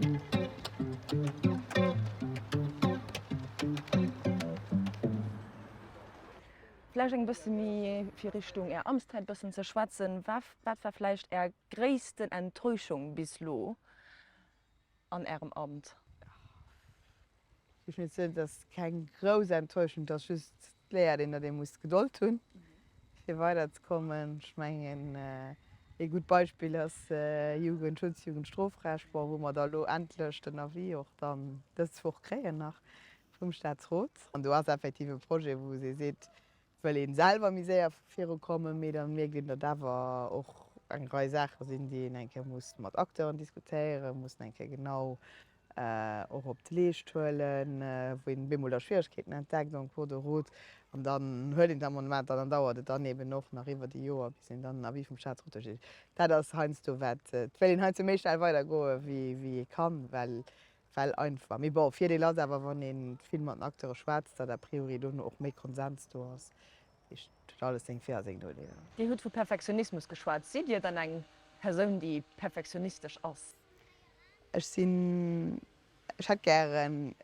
Vläicht eng bësse méi fir Richtung Är Amtszäit bëssen ze schwätzen. Wat wat war vläicht Är gréissten Enttäuschung bis elo an Ärem Amt? Ech muss soen, et ass keng grouss Enttäuschung, et ass just Léiert een, datt ee muss Gedold hunn, fir weider ze kommen. Ech mengen, ee gutt Beispill ass Jugendschutz, Jugendstrofrecht, bon, wou mer da elo endlech den Avis och dann dës Woch kréien nach vum Staatsrot. An do ass effektiv e Projet, wou ee seet, wëll ee selwer méi séier virukommen, mee da mierkt een, datt awer och eng Rei Saache sinn, déi een eng Kéier muss mat Acteuren diskutéieren, mussen eng Kéier genau och op d'Leescht huelen, wou een op eemol da Schwieregkeeten entdeckt en cours de route an dann huet een d'Amendementer an dann dauert et dann eben och nach iwwert e Joer bis een dann den Avis vum Staatsrot do kritt. Dat ass heiansdo wat, et wéilt een heiansdo méi schnell weidergoe wéi ee kann, well well einfach. Mee bon, Virdeel ass awer, wann ee vill mat den Acteure schwätzt, datt a priori dono och méi Konsens do ass. Dat heescht, et huet alles seng Vir a seng Nodeeler. Dir hutt vu Perfektionismus geschwat. Sidd Dir dann eng Persoun, déi perfektionistesch ass? Ech sinn, ech hätt gären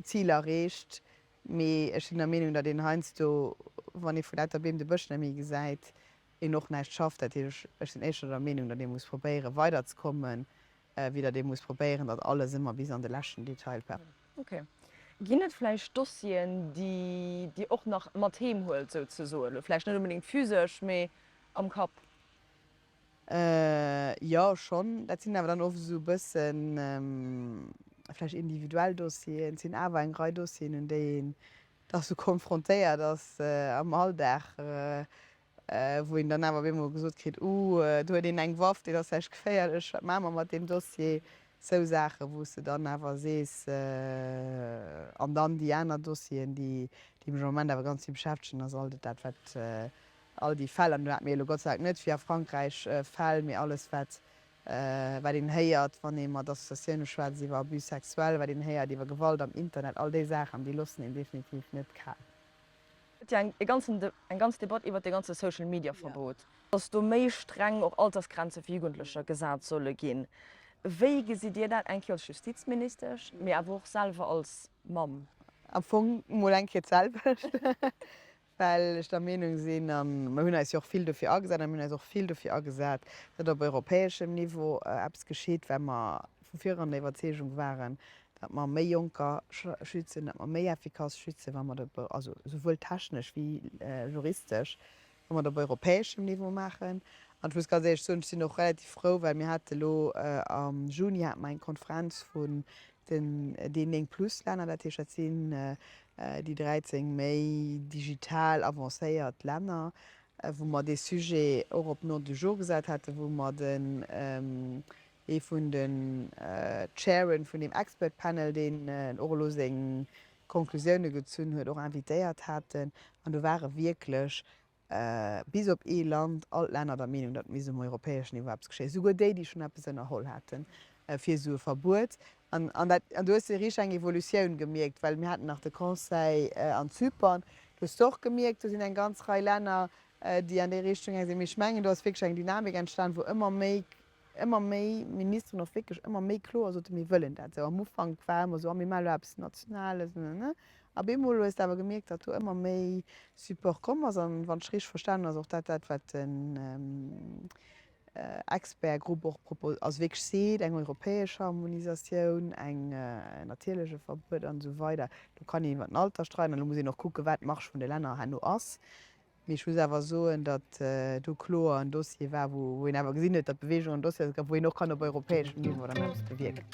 d'Zil erreecht, mee ech sinn der Meenung, datt een heiansdo, wann ee vu lauter Beem de Bësch net méi gesäit, een och näischt schafft. Dat heesch, ech sinn éischter der Meenung, datt ee muss probéiere weiderzekommen, wéi datt ee muss probéieren, datt alles ëmmer bis an de leschten Detail perfekt ass. Okay. Ginn et vläicht Dossieren, déi Dir och nach mat heem huelt, souzesoen? Vläicht net onbedéngt physesch, mee am Kapp? Jo schonn, dat sinn awer dann oft esou e bëssen vläicht individuell Dossieren. Et sinn awer eng Rei Dossieren, un déi een da sou konfrontéiert ass am Alldag, wou een dann awer op eemol gesot kritt, Uh, do huet een eng Waff, deen ass vläicht geféierlech, wat maache mer mat deem Dossier? Sou Saachen, wou s de dann awer sees. An dann déi aner Dossieren, déi mech am Moment awer ganz vill beschäftegen, ass alt dat wat All déi Fäll, an do hate mir elo Gott sei Dank net, wéi a Frankräich, Fäll, mee alles wat een héiert, wann ee mat Associatioune schwätzt iwwer Abus sexuels, wat een héiert iwwer Gewalt am Internet, all déi Saachen, déi loossen een definitiv net kal. Et gëtt jo eng ganzen eng ganz Debatt iwwer dee ganze Social Media Verbot. Datt do méi streng och Altersgrenze fir Jugendlecher gesat solle ginn. Wéi gesitt Dir dat, eng Kéier als Justizministesch, mee awer och selwer als Mamm? Am Fong mol eng Kéier d'selwecht. well ech der Meenung sinn, a mer hunn eis jo och vill dofir agesat, a mir hunn eis och vill dofir agesat, datt op europäeschem Niveau eppes geschitt, well mer vu viran der Iwwerzeegung waren, datt mer méi Jonker schützen, datt mer méi effikass schützen, wa mer dat also souwuel technesch wéi juristesch, wa mer dat op europäeschem Niveau maachen. An ech muss ganz éierlech soen, ech sinn och relativ frou, well mir hate lo am Juni hate mer eng Konferenz vu Déi néng Plus-Länner, dat heescht dat sinn déi 13 méi digital avancéiert Länner, wou mer dee Sujet och op l'ordre du jour gesat haten, wou mer den, ee vun de Chairen vun deem Expert Panel, deen och elo seng Conclusioune gezunn huet, och invitéiert haten. An do ware wierklech Bis op ee Land, all d'Länner der Meenung, datt misst um europäeschen Niveau eppes geschéien, esouguer déi, déi schonn eppes ënnerholl haten fir esou e Verbuet. An dat, an do hues de riicht, eng Evolutioun gemierkt, well mir haten nach de Conseil an Zypern, do hues de och gemierkt, do sinn eng ganz Rei Länner, déi an déi Richtung gaange sinn. Mee ech mengen, do ass wierklech eng Dynamik entstan, wou ëmmer méi ëmmer méi Ministeren och wierklech ëmmer méi kloer soten, mir wëllen dat esou. Am Ufank war ëmmer esou, ah mir maachen elo eppes Nationales, nenne. A bemol hues de awer gemierkt, datt do ëmmer méi Support komm ass a wann ech richteg verstanen ass och dat dat wat den Expertgrupp och propos, also wierklech seet, eng europäesch Harmonisatioun, eng natierlech e Verbuet an esou weider. Elo kann een iwwer den Alter streiden an elo muss een och kucken wat d'Marge vun de Länner herno ass. Mee ech muss awer soen, datt do kloer en Dossier war, wou een awer gesinn huet, datt d'Beweegung en Dossier ass, wou een och kann op europäeschem Niveau dann eppes bewierken.